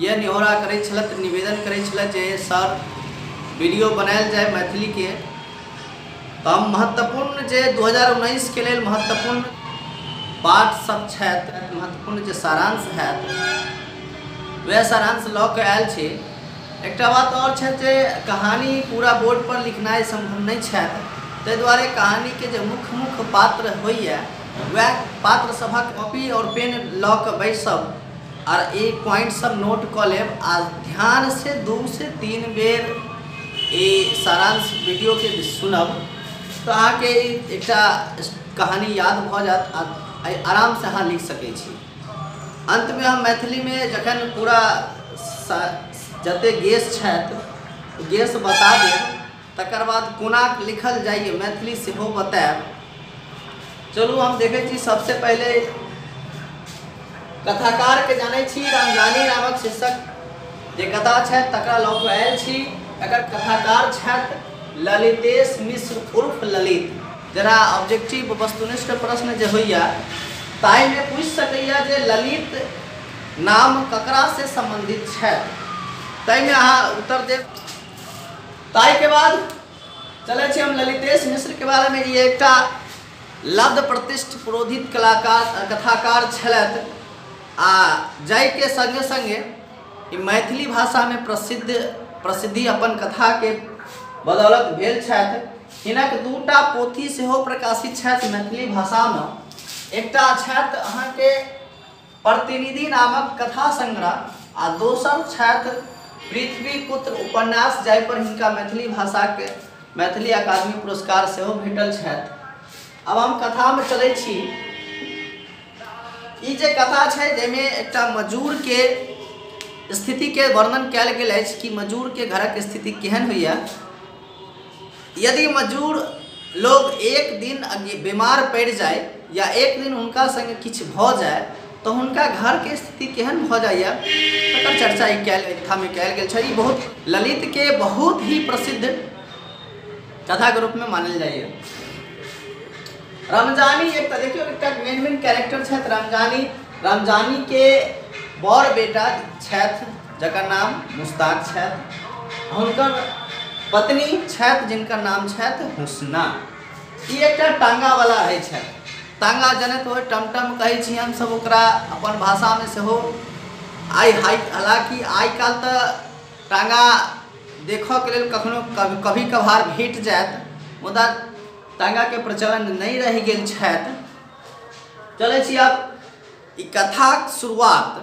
इएह निहोरा करैत छलथि, निवेदन करैत छलथि जे सर, वीडियो बनायल जाय मैथिली के। तऽ हम महत्वपूर्ण जे दू हजार उन्नैस के लेल महत्वपूर्ण पाठ सब छथि, महत्वपूर्ण जे सारांश हएत, वएह सारांश लऽ कऽ आयल छी। एकटा बात आओर छथि जे कहानी पूरा बोर्ड पर लिखनाइ सम्भव नहि छथि, ताहि दुआरे कहानी के जे मुख्य-मुख्य पात्र होइए, वएह पात्र सभक कॉपी आओर पेन लऽ कऽ बैसब। आर ई पॉइंट सब नोट कऽ लेब आ ध्यान से दू से तीन बेर ई सारांश वीडियो के सुनब तऽ अहाँके ई एकटा कहानी याद भऽ जायत आ आ आराम से अहाँ लिख सकै छी अंत में हम मैथिली में जखन पूरा सा- जते गेस छथि गेस बता देब तकर बाद कोनाक लिखल जाइए मैथिली सेहो बतायब चलू हम देखै छी सबसे पहिले कथाकार के जानै छी रामजानी नामक शीर्षक जे कथा छै तकरा लऽ कऽ आयल छी एकर कथाकार छथि ललितेश मिश्र उर्फ ललित जरा ऑब्जेक्टिव वस्तुनिष्ठ प्रश्न जे होइए ताहिमे पूछि सकैए जे ललित नाम ककरासँ सम्बन्धित छथि ताहिमे अहाँ उत्तर देब ताहि के बाद चले छी हम ललितेश मिश्र के बारे में ये एकटा लब्ध प्रतिष्ठ पुरोधित कलाकार कथाकार छलथि आ जाय के संगे संगे ई मैथिली भाषा में प्रसिद्ध प्रसिद्धि अपन कथा के बदौलत भेल छथि हिनक दूटा पोथी सेहो प्रकाशित छथि मैथिली भाषा में एकटा छथि अहाँके प्रतिनिधि नामक कथा संग्रह आ दोसर छथि पृथ्वीपुत्र उपन्यास जाहिपर हिनका मैथिली भाषाक मैथिली अकादमी पुरस्कार सेहो भेटल छथि आब हम कथामे चलै छी ई जे कथा छै जाहिमे एकटा मजूरके स्थितिके वर्णन कयल गेल अछि कि मजूरके घरक स्थिति केहन होइए यदि मजूर लोग एक दिन बीमार पड़ि जाए या एक दिन हुनका संगे किछु भऽ जाए तऽ हुनका घरके स्थिति केहन भऽ जाइए तकर चर्चा ई कयल कथामे कयल गेल छै ई बहुत ललितके बहुत ही प्रसिद्ध कथाके रूपमे मानल जाइए रमजानी एक तऽ देखियौ एकटा मेन मेन कैरेक्टर छथि रमजानी रमजानीके बड़ बेटा छथि जकर नाम मुस्ताक छथि हुनकर पत्नी छथि जिनकर नाम छथि हुस्ना ई एकटा टाङ्गावला होइ छथि टाङ्गा जनैत होइ टमटम कहै छी हमसभ ओकरा अपन भाषामे सेहो आइ हाइ हालाँकि आइ काल्हि तऽ टाङ्गा देखऽके लेल कखनो कभी कभार भेट जायत मुदा टाङ्गाके प्रचलन नहि रहि गेल छथि चलै छी आब ई कथाक शुरुआत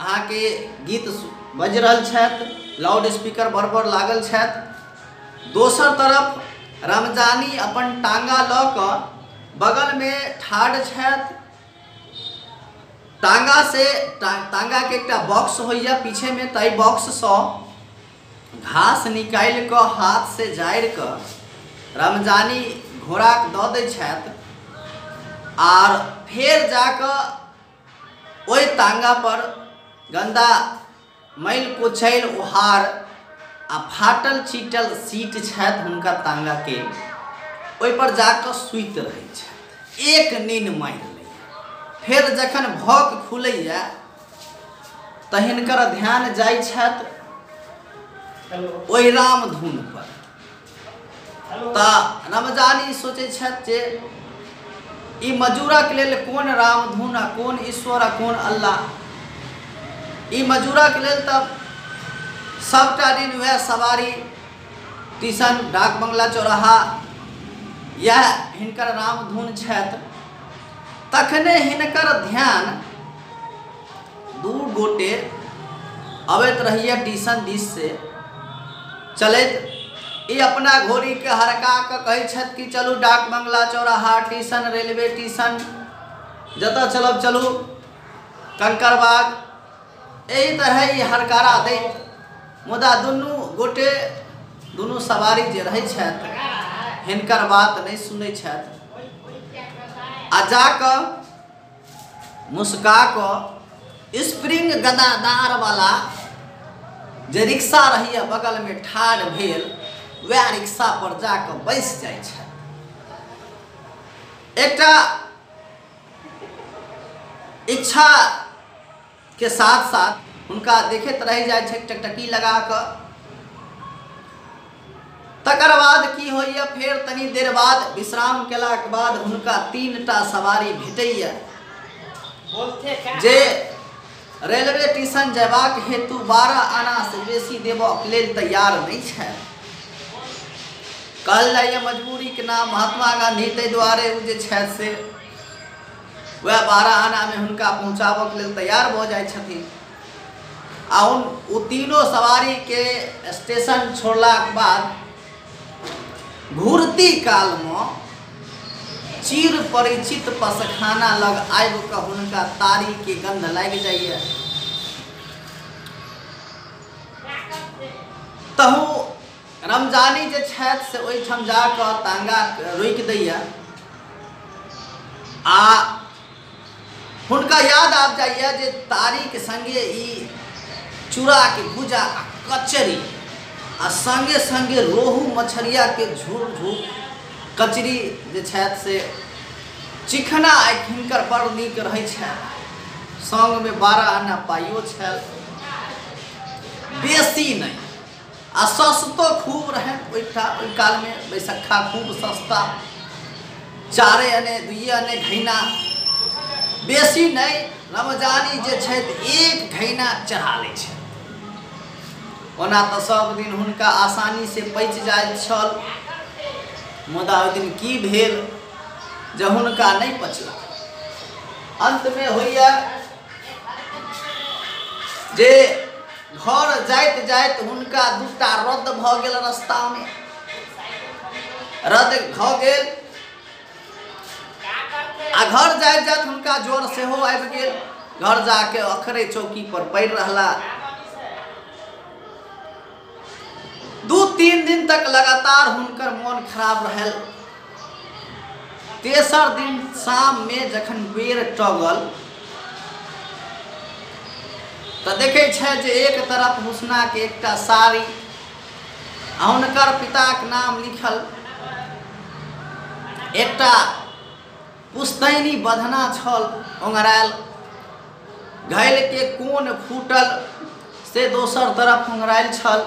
अहाँ के गीत बज रहल छथि लाउड स्पीकर बड़ बड़ लागल छथि दोसर तरफ रमजानी अपन टांगा लऽ कऽ बगल में ठाढ़ छथि टांगा से टा, टांगा के एकटा बॉक्स होइया पीछे में ताई बॉक्स से घास निकालि कऽ हाथ से जारि कऽ रमजानी घोड़ा दऽ दै छथि आर फेर जाकऽ ओहि तांगा पर गंदा मैल कुचैल उहार आ फाटल चीटल सीट छथि हुनका तांगा के ओहि पर जाकर सुति रहै छथि एक नीन मारि लैए फेर जखन भौक खुलैए तऽ हिनकर ध्यान जाइ छथि ओहि रामधुन पर तऽ रमजान ई सोचै छथि जे ई मजूरक लेल कोन रामधुन आ कोन ईश्वर आ कोन अल्लाह ई मजूरक लेल तऽ सभटा दिन उएह सवारी टीसन डाक बंगला चौराहा इएह हिनकर रामधुन छथि तखने हिनकर ध्यान दू गोटे अबैत रहिए टीसन दिस से चलैत ई अपना घोड़ीके हरका कऽ कहै छथि कि चलू डाक बंगला चौराहा टीसन रेलवे टीसन जतऽ चलब चलू कंकड़बाग एहि तरहे ई हरकारा दैत मुदा दुनू गोटे दुनू सवारी जे रहै छथि हिनकर बात नहि सुनै छथि आ जा कऽ मुस्का कऽ स्प्रिंग गदादारवला जे रिक्शा रहैए बगलमे ठाढ़ भेल वएह रिक्शापर जा कऽ बैसि जाइ छथि एकटा इच्छा के साथ साथ हुनका देखैत रहि जाइ छै टकटकी लगा कऽ तकर बाद की होइए फेर तनी देर बाद विश्राम केलाक बाद हुनका तीन टा सवारी भेटैए जे रेलवे स्टेशन जयबाक हेतु बारह आना से बेसी देबक लेल तैयार नहीं है कहल जाइए मजबूरी के नाम महात्मा गांधी ताहि दुआरे ओ जे छथि से वह बारह आना में हुनका पहुँचाबक लेल तैयार भ जाय छथिन आ ओ तीनों सवारी के स्टेशन छोड़ला के बाद घूरती काल में चिर परिचित पसखाना लग आब के हुनका तारी के गंध लाग जाइए तहु रमजानी जे छथि से ओहिठाम जा कऽ तांगा रोकि दैए आ हुनका याद आबि जाइए जे तारीके सङ्गे ई चूड़ाके भूजा आ कचरी आ सङ्गे सङ्गे रोहू मछरियाके झूर झूर कचरी जे छथि से चिखना आइ हिनकर बड़ नीक रहै छनि सङ्गमे बारह आना पाइयो छल बेसी नहि आ सस्तो खूब रहे ओहि काल में बैसखा खूब सस्ता चारे अने दुए अने घैना बेसी नहीं रमजानी जे एक घैना चढ़ा ले ओना तो सब दिन हुनका आसानी से पच जाए छल मुदा ओहि दिन की भेल जे हुनका नहीं पचल अंत में होइया जे घर जाइत जाइत हुनका दूटा रद्द भऽ गेल रस्तामे रद्द भऽ गेल आ घर जाइत जाइत हुनका ज्वर सेहो आबि गेल घर जाके अखरे चौकी पर पड़ि रहला दू तीन दिन तक लगातार हुनकर मोन खराब रहल तेसर दिन शाम मे जखन बेर टगल तऽ देखै छै जे एक तरफ हुसना के एकटा साड़ी आ हुनकर पिताक नाम लिखल एकटा पुस्तैनी बधना छल ओंगरायल घैल के कोन फूटल से दोसर तरफ ओंगरायल छल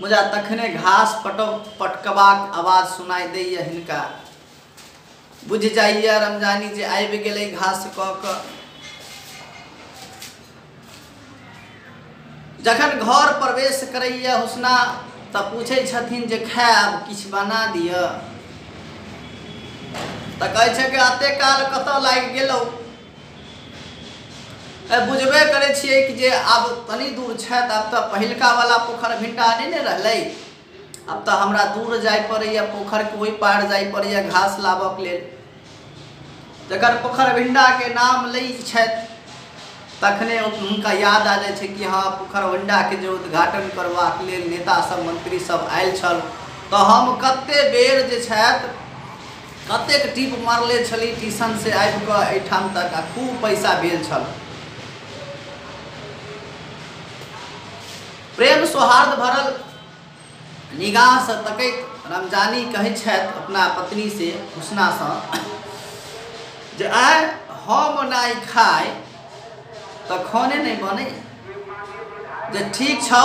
मुदा तखने घास पटव पटकबाक आवाज सुनाइ दैए हिनका। बुझि जाइए रमजानी जे आबि गेलै घास कऽ कऽ। जखन घर प्रवेश करैए हुस्ना तँ पुछै छथिन जे खाएब? किछु बना दिअ? तँ कहै छेक अतेक काल कतऽ लागि गेलहुँ? ए, बुझबे करे छियै कि जे आब तनी दूर छथि आब तऽ पहिलका वाला पोखर भिंटा नहि ने रहलै आब तऽ हमरा दूर जाय पड़ैए पोखरके ओहि पार जाय पड़ैए घास लाबऽके लेल जखन पोखर भिंडाके नाम लै छथि तखने ओ- हुनका याद आ जाइ छै कि हँ पोखर भिंडाके जे उद्घाटन करबाक लेल नेता सब मंत्री सब आयल छल तऽ हम कते बेर जे छथि कतेक टीप मारले छली टीसन से आबि कऽ एहिठाम तक आ खूब पैसा भेल छल। प्रेम सौहार्द भरल निगाह सँ तकैत रमजानी कहैत छथि अपना पत्नी से हुस्ना सँ जे आइ हम नहि खाइ तऽ खाने नहि बनैए। जे ठीक छौ।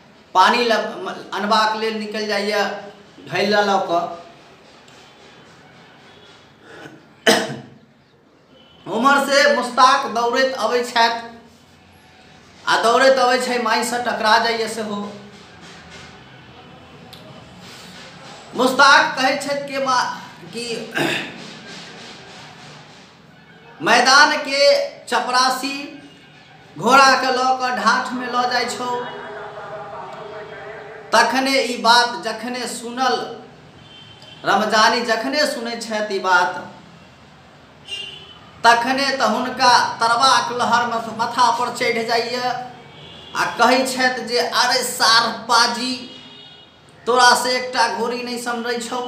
पानि लऽ अनबाक लेल निकलि जाइए घैला लऽ कऽ उमरसँ मुस्ताक दौड़ैत अबै छथि आ दौड़ैत अबै छै माइसँ टकरा जाइए सेहो मुस्ताक कहै छथि कि मा कि मैदानके चपरासी घोड़ाके लऽ कऽ ढाठमे लऽ जाइ छौ तखने ई बात जखने सुनल रमजानी जखने सुनै छथि ई बात तखने तऽ हुनका तरबाक लहरमे माथापर चढ़ि जाइए आ कहै छथि जे अरे सार पाजी तोरा से एकटा घोड़ी नहि समरै छौ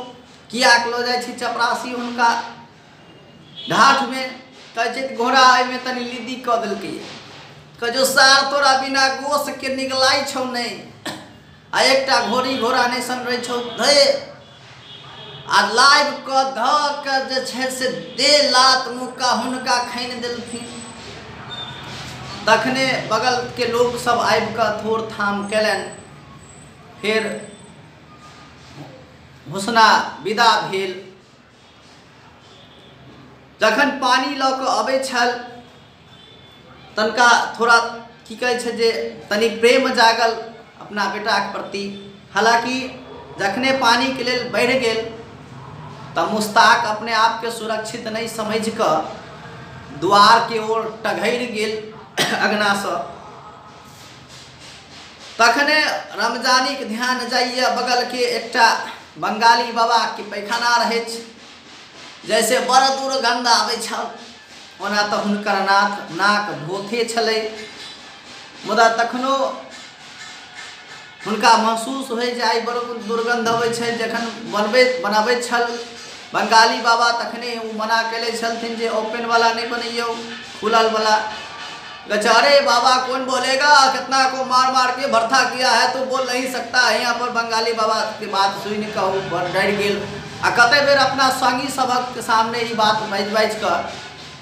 किएक लऽ जाइ छी चपरासी हुनका ढाठमे कहै छै घोड़ा एहिमे तनि लिद्दी कऽ देलकै कहै छौ सार तोरा बिना गोसके निगलाइ छौ नहि आ एकटा घोड़ी घोड़ा नहि समरै छौ धै आ लाइव कऽ धऽ कऽ जे छै से दे लात मुक्का हुनका खनि देलखिन तखने बगलके लोकसभ आबि कऽ थोड़ थाम केलनि फेर घोषणा विदा भेल जखन पानी लऽ कऽ अबै छल तनका थोड़ा की कहै छै जे तनि प्रेम जागल अपना बेटाक प्रति हालाँकि जखने पानिके लेल बढ़ि गेल तऽ मुस्ताक अपने आपके सुरक्षित नहि समझ कऽ द्वारके ओर टघरि गेल अगनासँ तखने रमजानीक ध्यान जाइए बगलके एकटा बंगाली बाबाके पैखाना रहै छै जैसे बड़ दुर्गंध आबै छल ओना तऽ हुनकर नाथ नाक भोथे छलै मुदा तखनो हुनका महसूस होइ जे आइ बड़ दुर्गन्ध अबै छै जखन बनबैत बनाबैत छल बंगाली बाबा तखने ओ मना कयले छलथिन जे ओपन वाला नहि बनैयौ खुलल वाला बेचारे बाबा कौन बोलेगा कितना को मार मार के भरथा किया है तो बोल नहीं सकता है यहाँ पर बंगाली बाबा के बात सुन कहू डर गेल आ कते बेर अपना संगी सबक सामने ई बात बाजि बाजि कऽ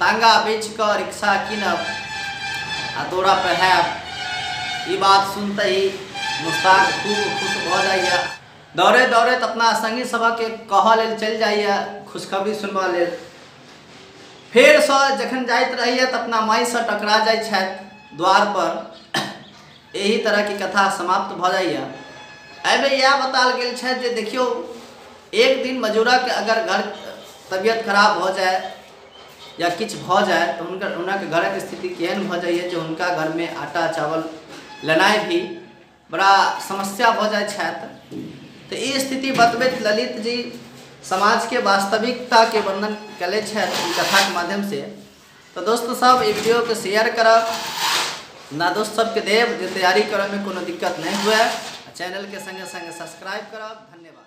तांगा बेचि कऽ रिक्शा कीनब आ दौरा पर हैब। ई बात सुनतहि मुस्ताक खूब खुश भऽ जाइए। दौड़ैत-दौड़ैत अपना संगी सभकेँ कहऽ लेल चलि जाइए खुशखबरी सुनबऽ लेल। फेर सँ जखन जाइत रहैए तऽ अपना माय सँ टकरा जाइत छथि द्वार पर। एहि तरह के कथा समाप्त भऽ जाइए। एहि मे इएह बताल गेल छथि जे देखियौ एक दिन मजूरक अगर घर तबियत खराब भऽ जाय, या किछु भऽ जाए तऽ हुनकर हुनक घरक स्थिति केहन भऽ जाइए जे हुनका घरमे आटा चावल लेनाइ भी बड़ा समस्या भऽ जाइत छथि तऽ ई स्थिति बतबैत ललित जी समाजके वास्तविकताके वर्णन कयले छथि कथाके माध्यमसँ तऽ दोस्त सब ई वीडियोके शेयर करब ना दोस्त सबके देव जे तैयारी करऽमे कोनो दिक्कत नहि हुए चैनलके सङ्गे सङ्गे सब्सक्राइब करब धन्यवाद